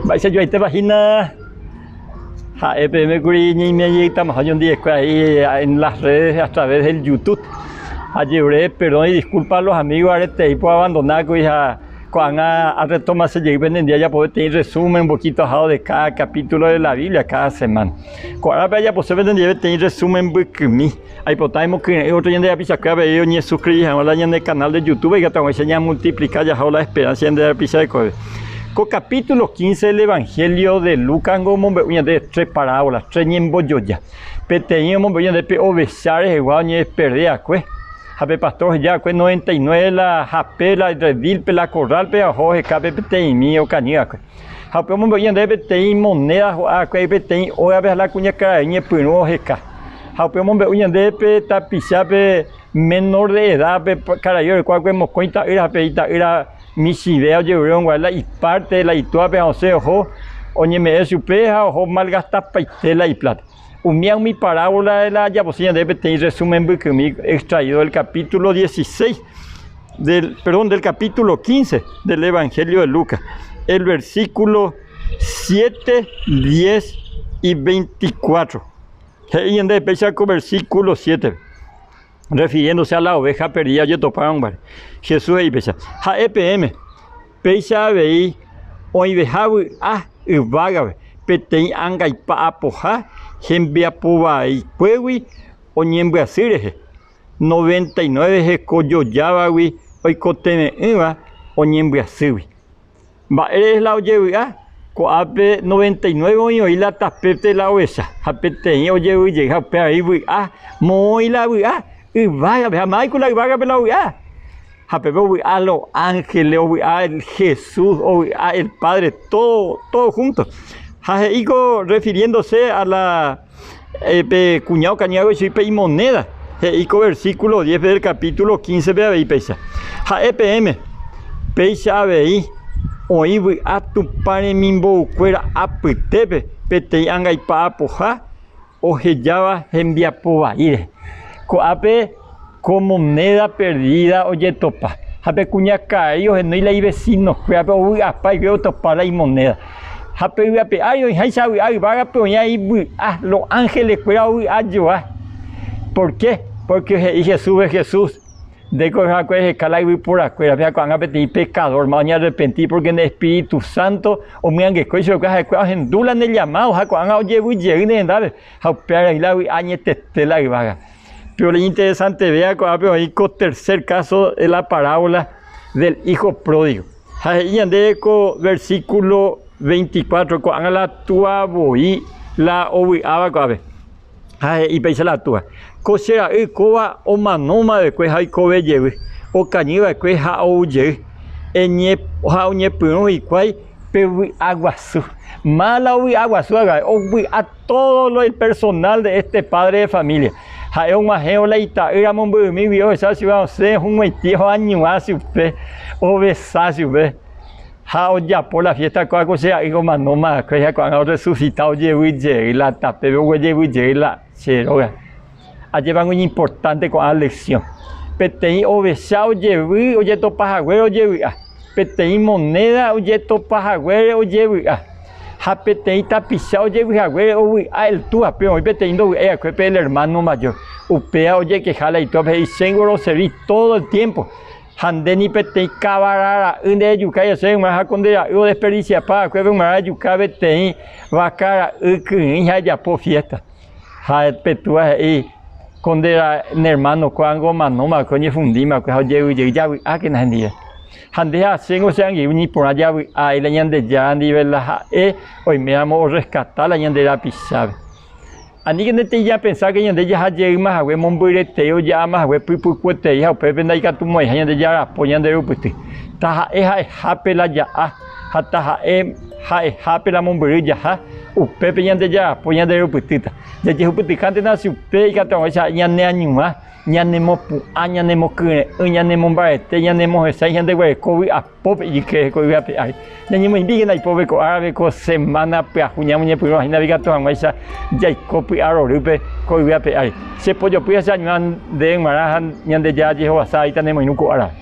Mba'eichajoaitépa hína ha'e peẽme kuri ñaimiãjeýtama oñondive en las redes a través del youtub, ajeure perdón y disculpa a los amigos aretei po abandona kuri ha ko'ág̃a a retoma che jey pende día ajapo peteĩ resumen un poquito ajado de cada capítulo de la Biblia cada semana. Ko árape ajapose pende ndive peteĩ resumen mbykymi. Aipota emokyre'ỹ ótro ñande rapichakuéra avei oñesuskriri hag̃ua la ñande kanál de Youtúbe ikatuag̃uáicha ñamultiplika jaho la esperánsa ñande rapicha rekoveve. Ko kapítulo kínse del evanhélio de Lucásngo omombe'u ñandéve tre parávola, tre ñembojoja. Peteĩ omombe'u ñande pe ovecha rehegua oñeperde va'ekue, ha pe pastór oheja va'ekue noventa y nueve la hape la redílpe la korrálpe ha oho oheka pe peteĩmi okañy va'ekue. Ha upépe omombe'u ñandéve peteĩ monéda ho'a'akue, peteĩ ógape ha la kuñakarai ñepyrũ oheka. Ha upépe omombe'u ñandéve pe tapichápe menor de edad, pe karai oreko va'ekue mokõi ta'ýra ha pe ita'ýra michĩve ojerure hag̃ua la ipárte la itúape ha osẽ oho oñeme'ẽ chupe ha oho malgastapaite la ipláta. Umía umi parábola de la japosi ñandéve peteĩ resumen mbykymi extraído del capítulo dieciséis, del, perdón, del capítulo quince del Evangelio de Lucas, el versículo siete, diez y veinticuatro. He'i ñandéve péicha ko versículo siete. refiriéndose a la oveja perdida ojetopárõguare. Jesús he'i péicha, Ha'e peẽme, péicha avei oĩveha vy'a yvágape peteĩ angaipa apoha hembiapovaikuégui oñembyasy rehe, noventa y nueve heko jojávagui oikotevẽ'ỹva oñembyasýgui. Mba'ére la ojevy'a? Ko'ápe noventa y nueve oĩ oĩ la tapépe la ovecha, ha peteĩ ojevy jey ha upéva avei vy'a, moõ oĩ la vy'a yvágape ha mávai ku la yvágape la ovy'a. Ha pépe ovy'a los ángeles, ovy'a Jesús, ovy'a el Padre, tódo, tódo júnto. Ha he'íko refiriéndose a la. Pe kuña okañy avei chugui pe imoneda, he'i ko versíkulo diéspe del kapítulo kínsepe avei péicha, Ha'e peẽme, péicha avei oĩ vy'a Tupã remimboykuéra apytépe peteĩ angaipa apoha ohejáva hembiapo vai rehe. Ko'ápe. Ko moneda perdida ojetopa, ha pe kuñakãai ohenói la ivesinokuérape ovy'apa ykére otopa la imoneda. Ha pe yvape ári oĩháicha vy'a yvágape oĩva ivy'a, lo ángelekuéra ovy'a joa. Pórke, pórke he'i Jesúspe Jesús, Nde ko yvagakue reheka la yvyporakuérape, ha ko'ág̃a peteĩ pekadórma oñearrepenti pórke ne espíritu sánto omyangekue ichupe ha'ekuéra ohendu la ne llamádo ha ko'ág̃a ojevy jey ne rendápe, ha upévare oĩ la vy'a añetete la yvága. Péro iñinteresantevéva ko'ápe oĩ ko tercer káso de la parábola del hijo pródigo. Ha he'i ñandéve ko versíkulo veinticuatro, ko'ág̃a la túa voi la ovy'áva ko'ápe. Ha he'i péicha la túa, Ko che ra'y kóva omanóma vekue ha oikove jevy, okañy va'ekue ha ou jey, ha oñepyrũ hikuái pe vy'a guasu. Má la ovy'a guasu hag̃ua, ovy'a. Tódo lo il personál de éste pádre de família, ha'e og̃uahẽvo la ita'ýra momby'ymígui ohecha chupe osẽ ohumoitĩ oañuã chupe, ovesa chupe, ha ojapo la fiésta ko'áko che ra'y omano ma'akue ha ko'ág̃a orresusita ojevy jey la tapépe oguejevy jey la che róga. Ajépango iñimportánte ko'ã leksión. Peteĩ ovecha ojevy ojetopa haguére ojevy'a, peteĩ monéda ojetopa haguére ojevy'a ha peteĩ tapicha ojevy haguére ovy'a el túape oĩ peteĩ ndovy'ái va'ekue pe el ermáno majór. Upéva ojekeha la itóape he'i, Che ngoroseri tódo el tiémpo, ha nde ni peteĩ kavara ra'y nderejukái hese hag̃ua ha ko nde ra'y odesperdisiapa va'ekuépe omarã ejuka peteĩ vaka ra'y kyrỹi ha ejapo fiésta. Ha pe túa he'i, Ko nde nermánoko ángo omanómava'ekue, oñehundímava'ekue ha ojevyjey, javy'ákena hendive. Ha nde ha chéngo che angirũ ñiporã javy'ái la Ñandejára ndive la ha'e oiméramo orreskata la ñande rapichápe. Aníkena etei japensa ke ñande jaha jeýma hague mombyretei oja'áma hague pypukuetei ha upépe ndaikatumo'ãiha ñande jarapo ñande rupyty. Taha'e ha'ehápe la ja'a. ha taha'e ha'ehápe la mombyry jaha, upépe ñande jajapo ñanderupytýta. Jajehupytykántena avei upe ikatu haguéicha ñaneañuã, ñanemopu'ã, ñanemokyre'ỹ, ñanemombarete, ñanemohesãi ñande guereko vy'a apópe ijyke heko yvy ape ári. Ñañemoĩmbíkena ipópe ko árape, ko semána pyahu ñamoñepyrũ hína ikatu haguéicha jaiko py'a rorýpe ko yvy ape ári. Chepojopy ha cheañuã nde g̃uarã ha Ñandejára jehovasa aíta nemoirũ ko árape.